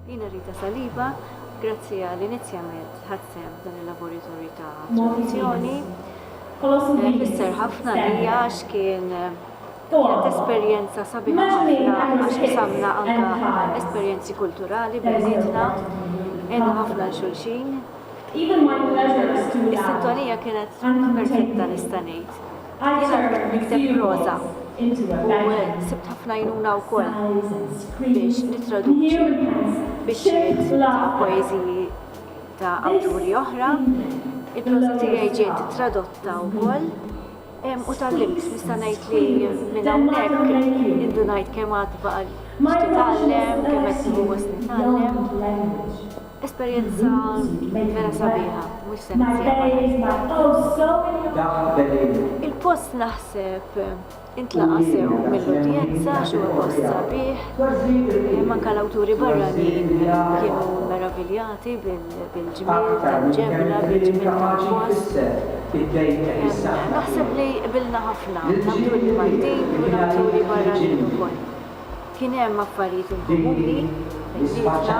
Jina Rita Saliba, grazzi għal inizjament ħadsem dan il-laboratorju ta' produzzjoni. Eh, Fisser ħafna li għax kien eh, kienet esperjenza sabiħa ħafna għax samna anka esperjenzi kulturali bejnietna, għenu ħafna xulxin, Is-sintonija kienet perfetta nista' ngħid. Jiena bdejt nikteb proża u sibt ħafna għajnuna wkoll biex nittraduċi biċċiet ta' poeżiji ta' awturi oħra. Il-proża tiegħi ġiet tradotta wkoll u tgħallimt. Nista' ngħid li minn hawnhekk indunajt kemm għad baqa' li titgħallem, kemm qed nieħu gost nitgħallem. Esperjenza vera sabiħa, mhux se ninsieha. Il-post naħseb intlaqa' sew mill-udjenza għax huwa post sabiħ. Anke l-awturi barranin kienu meraviljati bil-ġmiel tal-ġebla, bil-ġmiel tal-post. Naħseb li qbilna ħafna, l-awturi Maltin u l-awturi barranin ukoll. Kien hemm affarijiet inkomuni, il-liġna,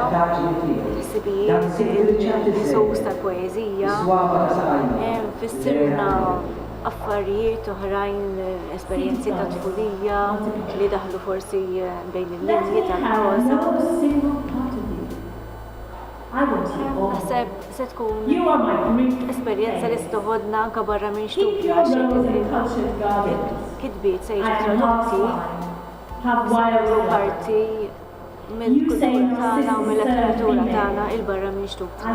il-ħsibijiet, il-ħsus tal-poeżija, fissirna affarijiet oħrajn, esperjenzi tat-tfulija li daħlu forsi bejn il-linji tal-proża. Naħseb se tkun esperjenza li se toħodna anke barra minn xtutna għax il-kitbiet se jiġu tradotti. Jagħmlu parti mill-kultura tagħna u mill-letteratura tagħna 'il barra minn xtutna.